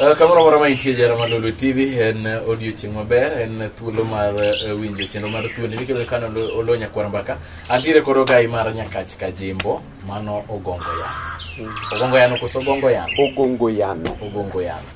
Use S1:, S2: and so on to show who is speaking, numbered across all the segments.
S1: Eh, kamoro amora ma intie jara mar Lulu TV en eh, odiochieng' maber en eh, thuolo mar winjo chenro mar thuondi mikelo kano olo nyakwar mbaka antiere koro gai mar nyakach kajimbo mano ogongo yano ogongo yano koso ogongo yano ogongo yano ogongo yano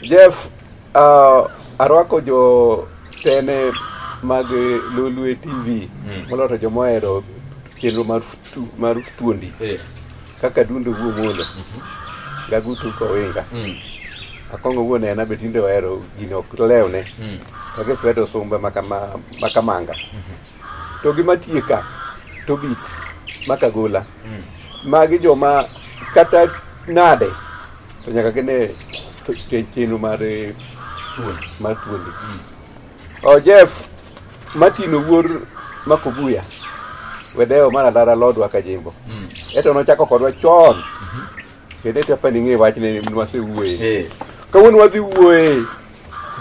S1: Jeff,
S2: uh, arwako jo tene mag Lolwe TV mm. moloyo to joma ohero chenro mar mar thuondi eh. kaka dundo wuo molo mm -hmm. gagutu kowinga mm. akongo wuo nena be tinde ohero gini ok lewne mm. kake kwedo sumbe makama, makamanga mm -hmm. to gima tie ka to bit makagola mm. magi joma kata nade To nyaka gine chenro mar eh, mar thuondi. Oh, Jeff, Martin Owuor Makobuya, wedeo mar Alara Lodwa Kajimbo. Mm. Eto nochako kodwa chon. Kendo ete apa ning'e wachne nwasewuoye. Eh. Kawuono wadhi wuoye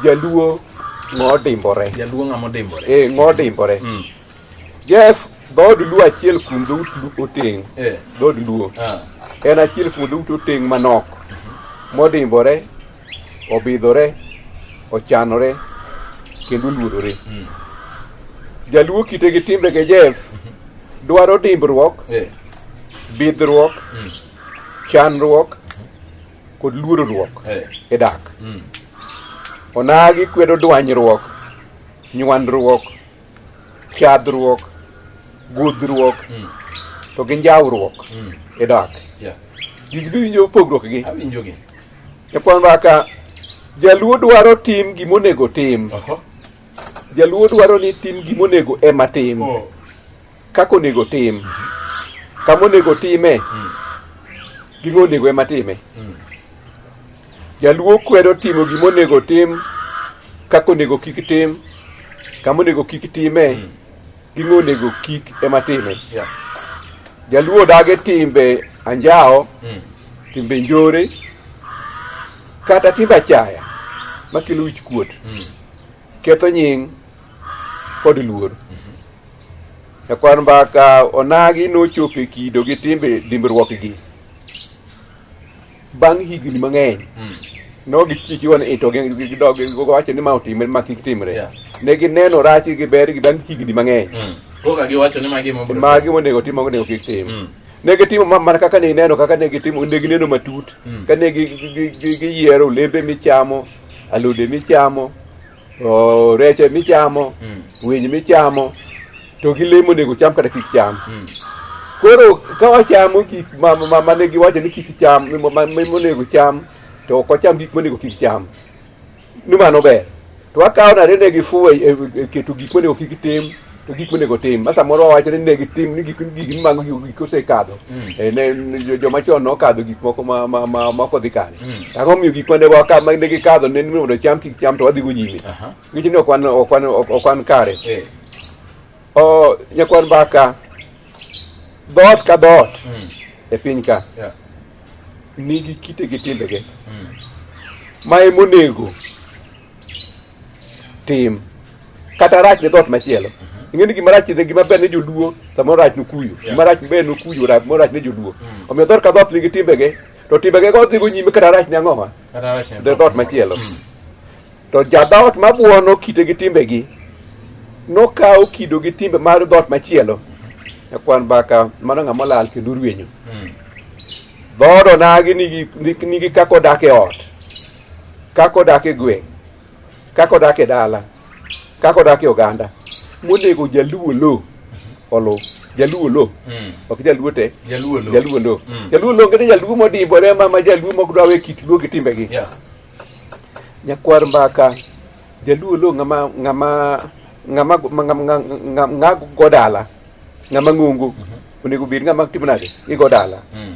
S2: jaluo ng'odimbore. Jaluo ng'ama odimbore. Eh, ng'odimbore. Mm. Jeff, dhood Luo achiel kuom dhout Oteng', eh. dhood Luo ah. en achiel kuom dhout Oteng' manok modimbore, obidhore, ochanore kendo oluorore. Hmm. Jaluo kite gi timbe ge Jeff dwaro dimbruok, eh. bidhruok, hmm. chanruok kod luorruok eh. e dak. Hmm. Onagi kwedo dwanyruok, nywandruok chadhruok gudhruok mm. to gi njawruok mm. e dak yeah. gigi biwinjo pogruok gi awinjogi ekwan baka jaluo dwaro tim gimonego tim uh -huh. jaluo dwaro ni tim gimonego ema tim oh. kaka onego tim mm -hmm. kama onego time mm. gimonego ema time mm. Jaluo kwedo timo gima onego tim kaka onego kik tim kama onego kik time hmm. ging'o onego kik ema time jaluo dage timbe anjawo hmm. timbe njore kata timbe achaya makelo wich kuot hmm. ketho nying kod luor ekwan mbaka onagi nochopo e kido gi timbe dimbruokgi Bang' higni mang'eny, nogichiki wan ito gidog giwacho ni ma otimre ma kik timre. Yeah. Ne gineno rach gi ber gi bang' higni mang'eny. Koka giwacho
S1: ni magi mobro. Magi monego tim
S2: magi monego kik tim. Mm. Ne gitimo ma- mana kaka ne ineno kaka ne gitimo ne gineno matut Mm. ka ne gi- gi- gi- gi- giyiero olembe michamo, alode michamo, O, rech ema ichamo Mm. winy michamo to gi lemo onego cham kata kik cham Mm. koro ka wachamo gik ma- ma- ma- mane giwacho ni kik cham ma- ma- ma- monego cham to ok wacham gik monego kik cham ni mano ber to wakawo nade ne gifuwo e- e- e- keto gik monego kik tim to gik monego tim ma samoro wawacho ni ne gitim ni gik gik mago gik osekadho mm. eh, ne joma chon nokadho gik moko ma ma ma ma kodhi kare mm. ang'o miyo gik mane waka ma ne gikadho ne ni mondo cham kik cham to wadhi go nyime ngech ni okwan okwan okwan kare eh. o nyakwan baka dot ka dot mm. e piny ka nigi kite gi timbege ma emonego tim kata rach ne dhoot machielo ing'eni gima rach ne gima ber ne joluo samoro rach nokuyo gima rach ber nokuyo rach mo rach ne joluo omiyo dhoot ka dhoot nigi timbege to timbege go dhigo nyime kata rach ne ang'owa Kata rach ne dhe dhoot machielo to jadhoot mabuono kite gi timbegi nokawo kido gi timbe mar dhoot machielo nyakwar mbaka mano ng'ama olal kendo orwenyo Mm. dhood onagi nigi, nigi, nigi kaka odak e ot kaka odak e gweng' kaka odak e dala kaka odak e oganda monego jaluo lo olo jaluo lo mm. ok jaluo te jaluo lo jaluo lo
S1: mm. jaluo
S2: lo ngene jaluo modimbore ma ma jaluo mok dwa we kit luo gi timbegi yeah. nyakwar mbaka jaluo lo ngama ngama ngama ngama godala ngama ngungu mm -hmm. onego bed ngama timo nade igodala mm.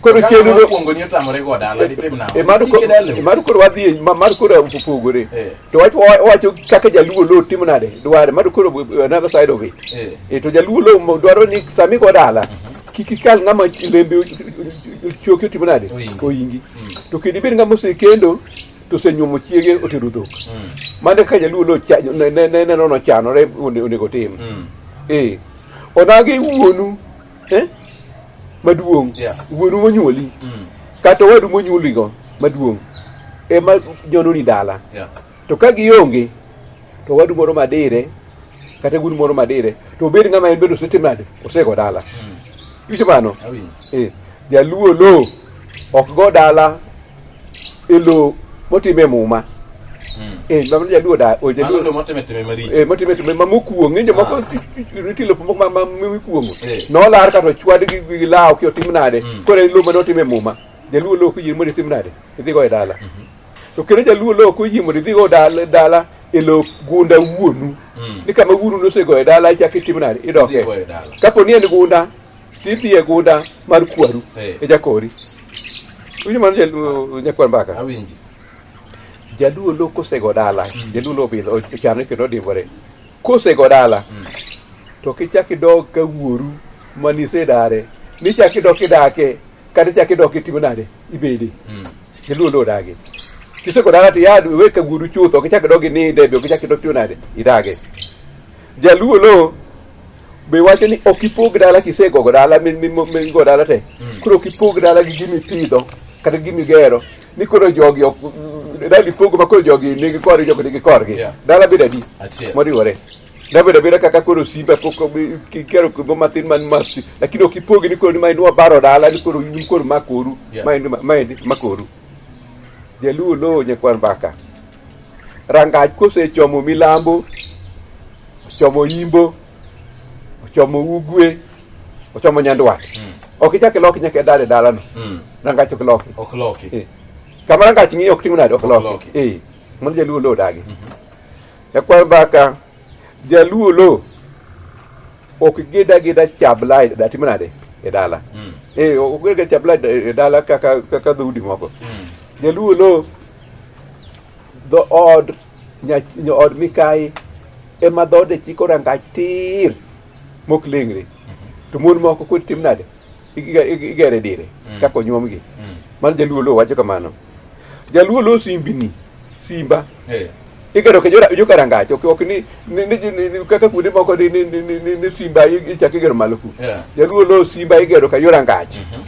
S2: koro
S1: chenro kuongo ni otamore go
S2: dala ditim na e mar koro e mar koro wadhi e mar koro opogore e. to wacho wacho kaka jaluo lo timo nade dware mar koro another side of it e to jaluo lo dwaro ni sami go dala mhm. kik ikal ng'ama lembe choki otimo nade oyingi mm. to kendo ibed ng'ama osekendo to osenyuomo chiege otero dhok mm. mane ka jaluo lo neno nochanore onego otim mm. ee onagi wuonu eh? maduong' yeah. wuonu monyuoli mm. kata owadu monyuoligo maduong' ema nyononi dala yeah. to ka gionge to owadu moro madire kata wuodu moro madire to obed ng'ama en bende osetimo nade osego dala mm. iwinjo mano eh, jaluo lo ok go dala e lowo motime muma eh ma ja duo da o ja Mano duo to motime time maricho. eh
S1: motime time ma
S2: mokuong ni jomoko nitie lopo moko ma ma mikuongo Eh. nolar kata ochwad gi gi law ki otim nade Mm. kore lowo ma notime muma jaluo lowo kuyie mondo itim nade idhi go e dala to kendo jaluo lowo kuyie mondo idhi go dala dala e lowo gunda wuonu Mm. ni kama wuonu nosego e dala ichak itim nade idoke Idhi go e dala. kapo ni en gunda Tidhi e gunda mar kwaru Eh. e jakori. Winjo mano jaluo nyakwar mbaka. Awinji. Jaluo lo kosego dala. Jaluo lo pidho ochano kendo odimbore. Kosego dala. To kichak idog ka wuoru manise dare. Nichak idok idake. Kata ichak idok itimo nade ibede. Mm. Jaluo lo odagi. Kisego dala to yad we ka wuoru chutho. Kichak idog ininde be kichak idok itimo nade idage. Jaluo lo Be wacho ni ok ipog dala kisegogo dala mi- mi- mi- migo dala te koro ok ipog dala gi gimi pidho kata gimi gero ni koro jogi ok dala ipogo ma koro jogi nigi korgi jogi nigi korgi Yeah. dala bedo adi Achiel. moriwore dabedo abeda kaka koro simba pok obi- ki- kero kigo matin man masi lakini ok ipogi ni koro ni maendi wabaro dala ni koro in koro makoru Yeah. maendi ma- maendi makoru jaluo lowo nyakwan mbaka Rangach kosechomo milambo, ochomo yimbo, ochomo ugwe, ochomo nyandwat. Ok ichak iloki nyaka idar e dalano. Mm. Rangach ok loki. Ok loki. Eh. Kama rangach ng'iyo ok tim nade ok Ok loki. loki. Eh. Mano jaluo lo odagi. Ekwa mbaka jaluo lo ok gida gida chabla e- da tim nade e dala. Mm. Eh ok gida chabla e dala kaka kaka dhoudi moko. Mm. Jaluo lo dhood od mikayi ema dhoode chiko rangach tir mok leng're to mon moko kod tim nade igere dire mm. kaka onyuomgi mm. mano jaluo lo wacho kamano jaluo lo simbini simba eh. igero ke joka rangach ok ni kaka kuonde moko ni simba ichako igero malo ku jaluo lo simba igero ka yo rangach mm-hmm.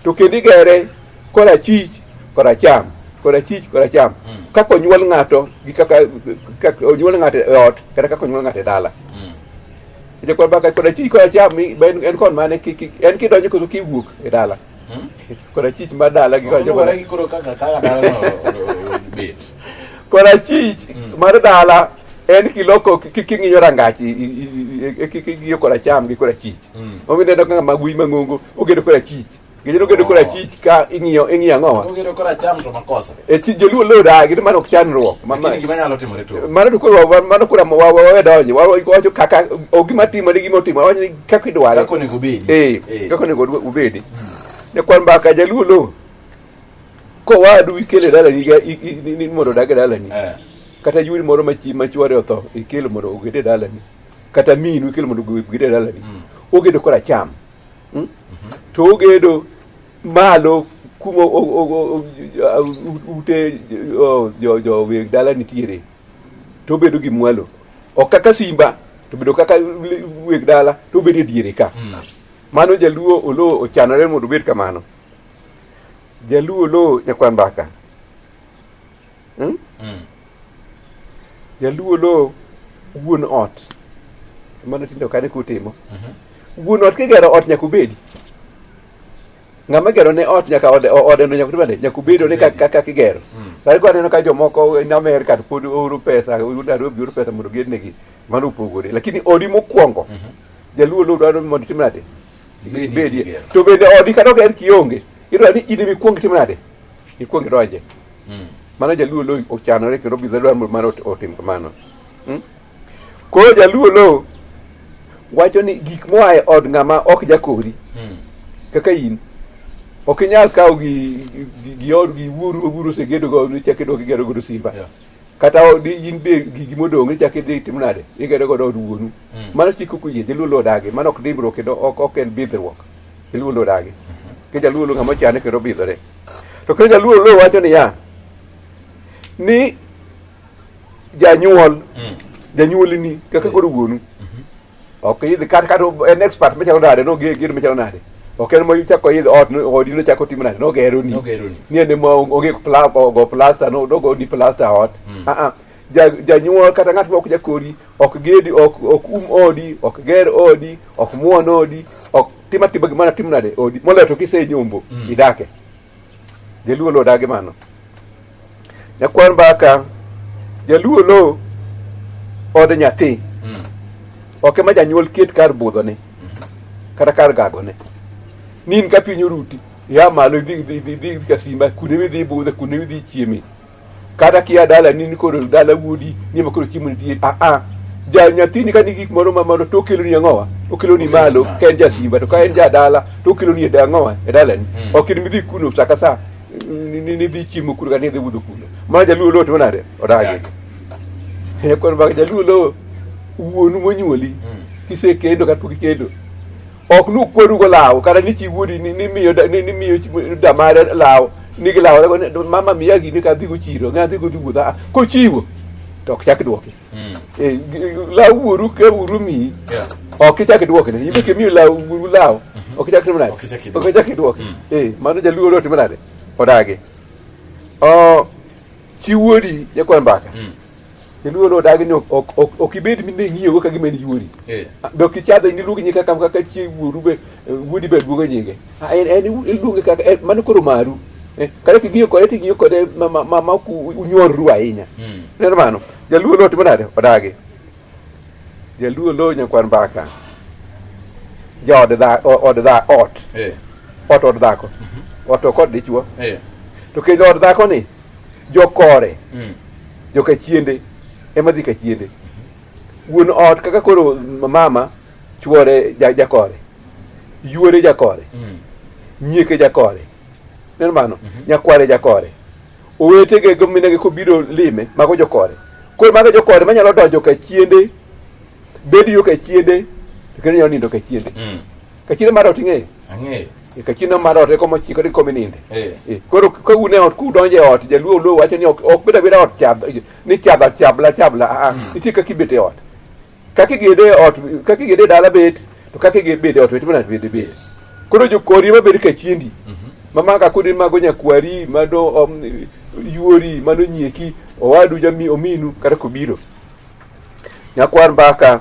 S2: to kendo igere korachich koracham korachich koracham Mm. kaka onyuol ng'ato gi kaka kaka onyuol ng'ato e ot kata kaka onyuol ng'ato e dala Mm. Ite kwa baka koda chich koda cham mi ben en kon mane ki ki en ki donjo koso ki wuok e dala. Mm. Koda chich ma dala gi koda Oluwore koda gi koro kaka kaka dalano obet. koda chich Mm. mar dala en ki loko ki ki- ki ng'iyo rangach i- i- i- i- ki ki ng'iyo koda cham gi koda chich. Mm. Omi neno kaka magui mang'ongo ogedo koda chich. Ginyalo gedo kora chich ka ing'iyo ing'iyo ang'o wa? Ogedo kora cham to
S1: makosa. E chi joluo lo da
S2: gidi mano ok chandruok. Ma- ma- Lakini
S1: gima nyalo timore to. Mano to koro wa-
S2: mano kora wa wa wa donjo. Wa wa- wacho kaka o gima timo ni gima otimo. Wacho ni kaka idware. Kako ni gubedi.
S1: Eh, kaka onego udwe- ubedi.
S2: Ne kwan mbaka jaluo lo. Ko wadu ikele dalani ga i- i- ni ni mondo odag e dalani. Eh. Kata yuri moro ma chi ma chwore otho ikelo mondo ogede dalani. Kata minu ikelo mondo ogede dalani. Ogedo kora cham. hmm? to ogedo malo kuma ute joweg dala nitiere to obedo gi mwalo ok kaka simba to bedo kaka weg dala to obedo e diere ka hmm. mano jaluo olo ochanore mondo obed kamano jaluo olo nyakwa mbaka Hmm? Hmm. Jaluo lo wuon ot mano tindo kane kutimo mhm. wuon ot kigero ot nyaka ubedi ng'ama gero ne ot nyaka ode ode no nyaka tibande nyaka ubedo ni kaka kigero hmm. sare kwa neno ka jomoko in America to pod oro pesa udaro biuru pesa mondo ged negi mano upogore lakini odi mokwongo mhm. jaluo lo dwaro mondo tim nade bedi to bende odi kata oger kionge idwaro ni in imikwong tim nade ikwong idonje Hmm. Mano jaluo lo ochanore kendo obidho dwaro mar otim kamano. Hmm? Koro jaluo lo wacho ni gik moa e od ng'ama ok jakori hmm. kaka in ok inyal kawo gi gi od gi wuoru wuoru osegedo go ni chak idok igero godo simba yeah. kata in be gigi modong' ichak idhi itim nade igedo godo od wuonu mm. mano chik ok oyie jaluo lodagi mano ok dimbruok kendo ok en bidhruok jaluo lodagi mm -hmm. ke jaluo lo ng'ama chane kendo bidhore To kendo jaluo luo wacho niya ni janyuol Mm. janyuolini kaka koro wuonu ok idhi kata kata en expert machalo nade noge gir machalo nade ok en mochako idhi ot no- odi nochako timo nade nogeroni Nogeroni. ni en ema onge pla- ogo plasta no- nogo ni plasta ot Mm. Ah, ah. Ja- janyuol kata ng'at ma ok jakori ok gedi ok ok um odi ok ger odi ok muon odi ok tima tima gimana tim nade odi moloyo to kisenyombo Mm. idake jaluo lo odagi mano nyakwar mbaka jaluo lo od nyathi Mm. ok ema janyuol ket kar budhone kata kar gagone nin ka piny oruti ia malo idhi idhi- idhi idhi idhi ka simba kuonde midhi budhe kuonde midhi chieme kata kia dala ni nikoro dala wuodi ni ma koro chiemo nitie a a ja nyathini ka ni gik moro ma moro to okeloni ang'owa okeloni malo ka en jasimba to ka en jadala to okeloni e da- ang'owa e dalani Mm. ok in midhi kuno sa ka sa ni- ni- nidhi chiemo kuno kata nidhi wuodho kuno ma jaluo lowo timo nade odagi koro mak jaluo lowo wuonu monyuoli Mm. kisekendo kata pok ikendo ok nukwerugo law kata ni chi wuodi ni- nimiyo da- ni- nimiyo chi- damare law ni gilaw rego ni, mama miya gini ka adhigo chiro ng'a adhigo dhi wuodha Ah, kochiwo to ok chak dwoki Eh, gi- law wuoru ka wuoru miyi Yeah. ok ichak idwokne ibe kimiyo law wuoru law ok ichak timo nade Ok ichak idwoki. ok ichak idwoki Eh, mano jaluo dwa timo nade odagi Oh, chi wuodi jakwan mbaka kendo wuon odagi ni ok- ok ok- ok ibed mine ng'iyogo ka gima en yuori Eh. be ok ichadhe ni iluonge nyinge kaka kaka chi wuoru be eh, wuodi be luonge nyinge Ah, en en iluonge kaka en- mano koro maru Eh, kata king'iyo kode ting'iyo kode ma- ma- ma ma ok u- unyorru ahinya Mm. neno mano jaluo lo timo nade odagi jaluo lo nyakwar mbaka jaod dha- o- od dha ot Eh. ot od dhako ot ok od dichwo Eh. to kendo od dhako ni jokore mm. jokachiende ema dhi kachiende wuon ot kaka koro mama chuore jakore yuore jakore mm. nyieke jakore neno mano mm -hmm. nyakware jakore owetege gominege kobiro lime mago jokore koro mago jokore manyalo donjo kachiende bed yo kachiende to kendo nyalo nindo kachiende mm. Kachine mar ot ing'eyo? Ang'eyo. E, Kachine mar ot eko mochikore kome ninde. Eh. E, Koro ka un e ot kudonjo e ot jaluo luo wacho ni ok ok bed abeda ot chadha ni chadha chabla chabla a a nitie kaka ibet e ot. Kaka igede e ot kaka igede e dala bet to kaka igede bede e ot bet mana bede bet. Koro jokori ma bed kachiendi ma maka kodi mago nyakwari mado om, yuori mano nyieki owadu jami ominu kata kobiro. Nyakwar mbaka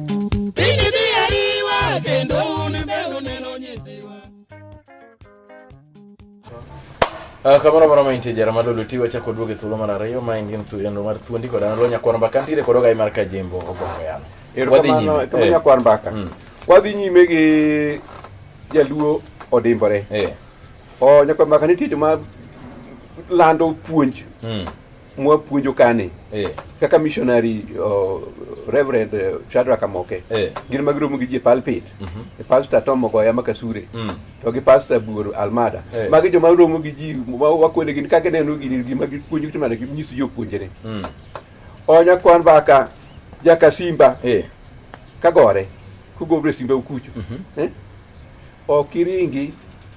S1: Uh, kamano moro ma intie jara malolo tiwa chako duoge thuolo mar ariyo ma en gin thuolo mar thuondi kod an lonya kwar mbaka ntiere kod ogai mar kajembo ogongo yano wadhi nyime eh. lonya
S2: kwar mbaka mm. wadhi nyime gi jaluo odimbore eh. o oh, nyakwar mbaka nitie joma lando puonj mm. mwapuonjo kani eh. kaka missionary uh, reverend uh, Shadrack Amoke eh. gin ma giromo gi ji e pulpit mm -hmm. pastor Tom Mogoya Makasure mm. to gi pastor Buoro Almada eh. magi joma romo gi ji wakwene gin kaka neno gini gima gipuonjo to mana ginyiso jopuonjre mm. onya kwan baka jaka simba eh. kagore kugobro e simba ukucho mm -hmm. eh? okiringi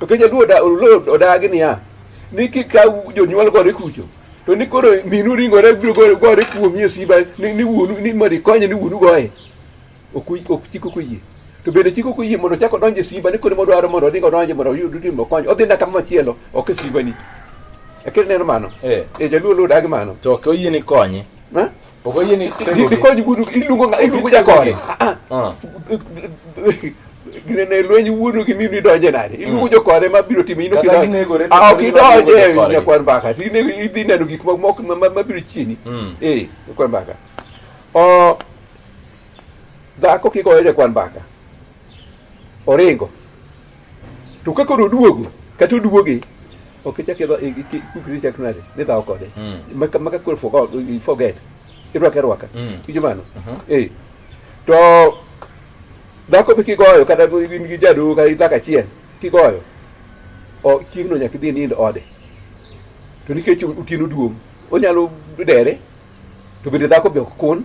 S2: To kenya luo da luo odagi niya ni kikaw jonyuol gore kucho to ni koro minu ringore biro gore gore kuomi e simba ni ni wuonu ni mondo ikonye ni wuonu goye ok uy- ok chik ok oyie to bende chik ok oyie mondo ochak odonj e simba ni koro modwaro mondo odhi odonje mondo oyud timo konyo odhi na kama machielo ok e simbani akiri neno mano Eh. e jaluo luo odagi mano To ok oyie ni konye.
S1: Ha? boo ko yéene di di ko ñu wudu di
S2: lungo nga lungo ja koore ah gine ne loñi wudu gi mimi doje nani ilungo jo koore ma biro timi ino Kata ginego re- ah ok ginego re- doje koore. ne kwan baka ti ne idi nenu gik moko moko ma- ma ma biro chini Mm. eh ne kwan baka o dhako kiko eje kwan baka oringo to ka koro oduogo kata oduoge ok ichak idho kukri ichak nade ni dhawo kode maka maka koro forgot you forget irwaka irwaka kijo mano eh to dhako be kigoyo kata in gi jadu kata dhako achiel kigoyo o chieng'no nyaka idhi nind ode to nikech otieno duong' onyalo dere to bende dhako be ok kun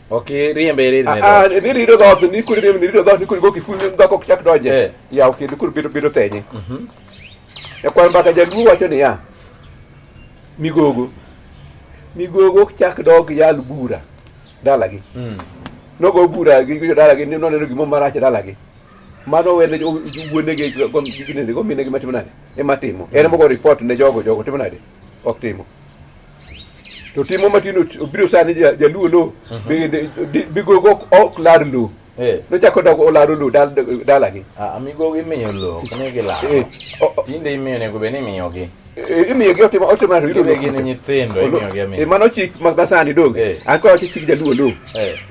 S2: Okay, rie
S1: mbere ire. Ah, ni riro
S2: dot, ni kuri ni riro dot, ni kuri go kifu ni ndako kuchak doje. Eh. Ya okay, ni kuri biro biro tenye. Mhm. Mm ya kwa mbaka jaluo wacho ni ya. Migogo. Migogo kuchak dog yal bura. Dalagi. Mhm. Mm nogo bura gi jo dalagi ni noneno gimo marach dalagi mano wene wuonegi ginene go minegi matimo nade ema timo en mogo report ne jogo jogo timo nade ok timo to timo matino obiro sani jaluo lo bigogo ok lar lo nochako dok olaro lo dalagi amigogo imiyo
S1: lo ok ni gilaro tinde imiyo nego bed ni imiyogi imiyogi otimo
S2: otimo gin nyithindo
S1: imiyogi amiyo mano chik masani
S2: donge an kwa chik jaluo lo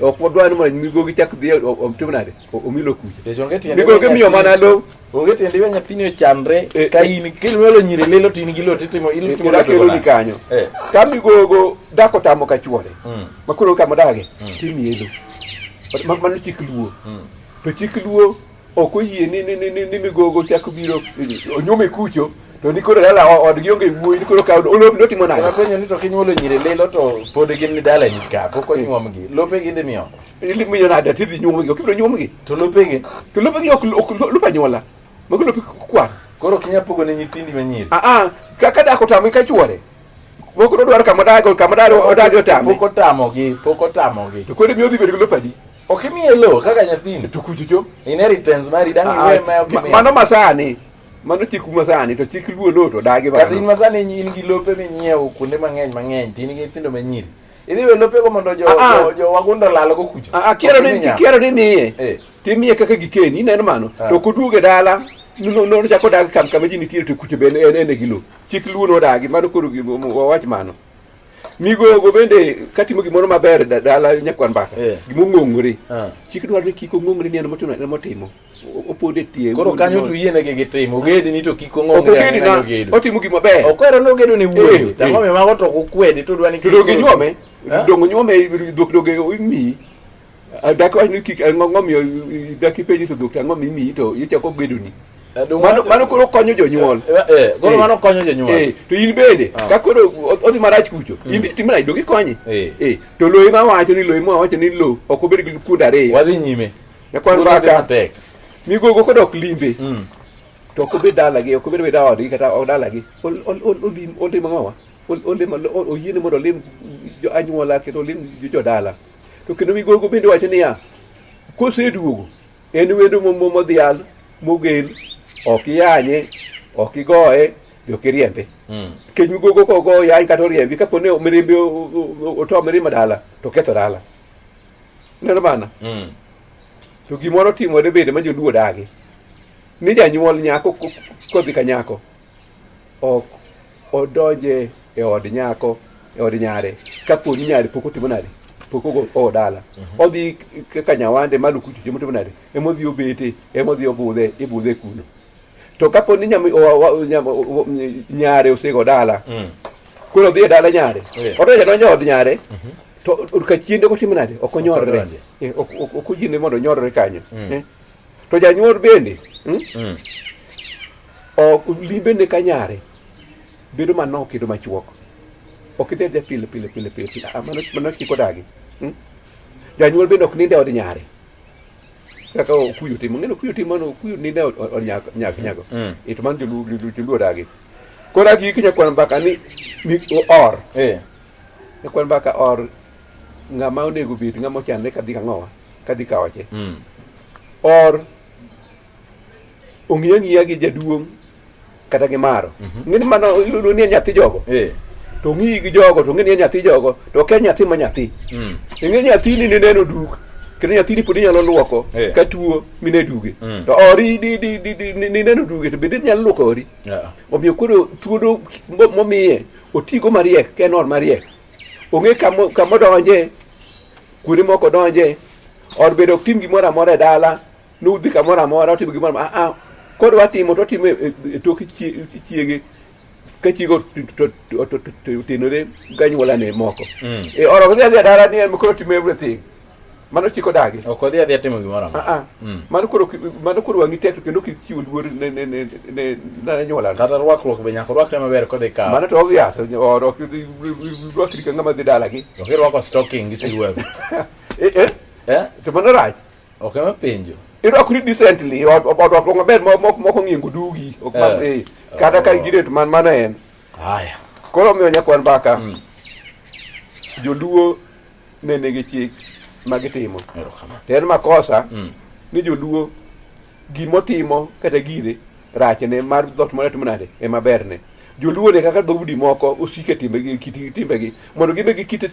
S2: ok wadwani mondo migogi chak dhi otim nade omilo kucha nikech onge tiende Nigo gimiyo mana low. onge tiende iwe nyathini
S1: ochandre Eh, ka in kilwelo nyiri lilo to in gi lot itimo in itimo Kira lot kelo ni kanyo.
S2: Eh. Ka migogo dako tamo ka chuore. Mm. Ma koro kama dage. Timiye low. But ma- Mano chik luo. To chik luo ok oyie ni ni ni ni- ni migogo chako biro eh, onyume kucho to ni koro dala o- odgi onge wuoyi ni koro ka olom notimo nade. Napenyo ni to kinyuolo nyiri
S1: lilo to pod gin ni dalani ka pok onyuomgi lope ginde miyo Ili miyo na da
S2: tidhi nyuomo gi, okibiro nyuomo gi. To lope gi.
S1: To lope gi ok ok
S2: lope anyuola. Mago lope kwa. Koro kinya pogo ne
S1: nyithindi manyiri. Ah ah, kaka dako
S2: tamo ka chuore. Moko do dwaro kama dago, kama daro odago otamo. Poko tamo gi, poko
S1: tamo gi. To kodi miyo dhi bedo gi
S2: lope adi? Ok imiye lo
S1: kaka nyathini. To kujujo.
S2: Inheritance mari
S1: dangi ah, we ma ok imiye. Mano masani.
S2: Mano chik masani to chik luo lo to dagi bana. Kasi masani in gi
S1: lope minyiewo kuonde mang'eny mang'eny, tin gi nyithindo manyiri. Idhi we lopego mondo jo, Ah, ah. jo, jo wagunda olalgo kucho. Ah, ah, kiero ni Okinya. kiero ni
S2: miye Eh. timiye kaka gikeni ineno mano Ah. to koduoge dala no no no chako dag kam kama ji nitiere to kucho bende en ene gilo chik luo no dagi mano koro gi- mo- mo- wawach mano migogo bende katimo gimoro maber da- dala nyakwan mbaka Eh. gimong'ongore Ah. chik dwaro ni kik ong'ongre ni en motimo en motimo opod e tie. Koro kanyo to yiene gi
S1: gitimo. Ogedi ni to kik ong'ong ne ani nalo gedo. Otimo gima ber. Okwero
S2: no gedo ni wuoyo. Eh,
S1: eh. Tango me mago to kukwedi to dwani kik. Dogi nyome.
S2: Dongo nyome dok doge mi. Dak wani kik ng'ongo mi dak ipenji to dok ang'o mi mi to ichako gedo ni. Eh, mano koro konyo jonyuol koro mano konyo
S1: jonyuol to in bende ah.
S2: ka koro odhi marach kucho in hmm. timna idogi konye to loyi ma wacho ni loyi ma wacho ni lo ok obed gi kuonde ariyo wadhi nyime
S1: Jakwan mbaka.
S2: Mi gogo kodok limbe. Mm. To ok obed dalagi, ok obed weda odgi kata odalagi. Olim olimo ng'owa. Olimo oyiene mondo olim jo anyuola kendo olim jo dala. To kendo mi gogo bende wacho niya, koseduogo en wendo modhial mogel ok iyanye ok igoye be ok iriembe hmm. kech migogo kogo yany kata oriembi kaponi mirimbi oto mirima dala to ketho dala Neno bana. Mm. To gimoro timore bende ma joluo odagi. Ni janyuol nyako kodhi ka nyako ok odonje e od nyako e od nyare ka poni nyare pok otimo nade pok ogo dala mhm. odhi ka nyawande maluku chuche motimo nade emodhi obete emodhi obudhe ibudhe kuno to kapo ni nyare osego dala mm. koro odhi e dala nyare odoja donjo od nyare mhm. to ka chiende ok otim nade ok onyorre eh, ok oyiene mondo onyorre kanyo mm. eh. to janyuol bende hmm? mm. limbene ka nyare bedo manok kendo machuok ok idhi adhia pile pile pile pile ah, mano chiko dagi hmm? janyuol bende ok ninde od nyare kaka okuyu timo ng'eno okuyu timo no okuyu ni ne onyak nyak nyago mm. it man julu julu dagi kora gi kinya kwan baka ni ni or eh ne kwan baka or nga ma onego bit nga mo chan ne kadhi ka ngowa kadhi ka wache mm. or ongiya ngiya gi jaduong kata gi maro mhm. ng'ini mano iludo ni nyathi jogo eh. to ng'iyi gi jogo to ng'ini nyathi jogo to ok en nyathi ma nyathi mm. ing'e nyathini ni neno duk kendo nyathini pod inyalo luoko eh. ka tuo mine duge mm. to ori nineno duge to bende inyalo luoko ori omiyo koro thuolo momiye otigo mariek ka en or mariek ong'e kamodonje kuonde moko donje or bedo ok tim gimoro amora e dala nudhi kamoro amora otimo gimoro ah, ah, kod watimo to watimo e, e tok chiege ka chiege otenore ganyuolane moko mm. e oro kodhi adhi adara ni en koro otimo everything mano chik odagi ok odhi adhi atimo gimoro
S1: amora ah, mm. mano koro
S2: mano koro wang'i tek kendo kik chiw luor ne ne ne ne ne nyuolane kata rwakruok be nyaka
S1: rwakre maber kodhi kawo mano to odhi aso
S2: oro ok dhi rwakri ka ng'ama dhi dalagi ok irwako stocking
S1: gi silwewe eh eh
S2: eh to mano rach Ok ema penjo.
S1: irwakri decently
S2: or- or- orwakruok maber ma- ma- ma ok ong'iyo ngudugi ok ma- Eh. eh, kata ka giret man mana en Haya.
S1: koro omiyo nyakwan
S2: mbaka joluo ne nigi chik ma gitimo Erokamano. to en makosa ni joluo Gimotimo kata gire rachne mar dhot mane timo nade ema berne. Joluo ne kaka dhoudi moko osike timbegi kitigi timbegi mondo gibed gi kite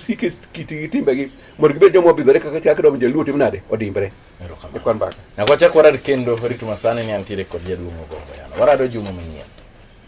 S2: sike kitigi timbegi mondo gibed joma obidhore kaka chak dom jaluo timo nade odimbre. E kwan baka. Na kwa chakwa rad kendo
S1: ritu masani ni antiere kod jaduong' ogongo yana. Warado juma manyien.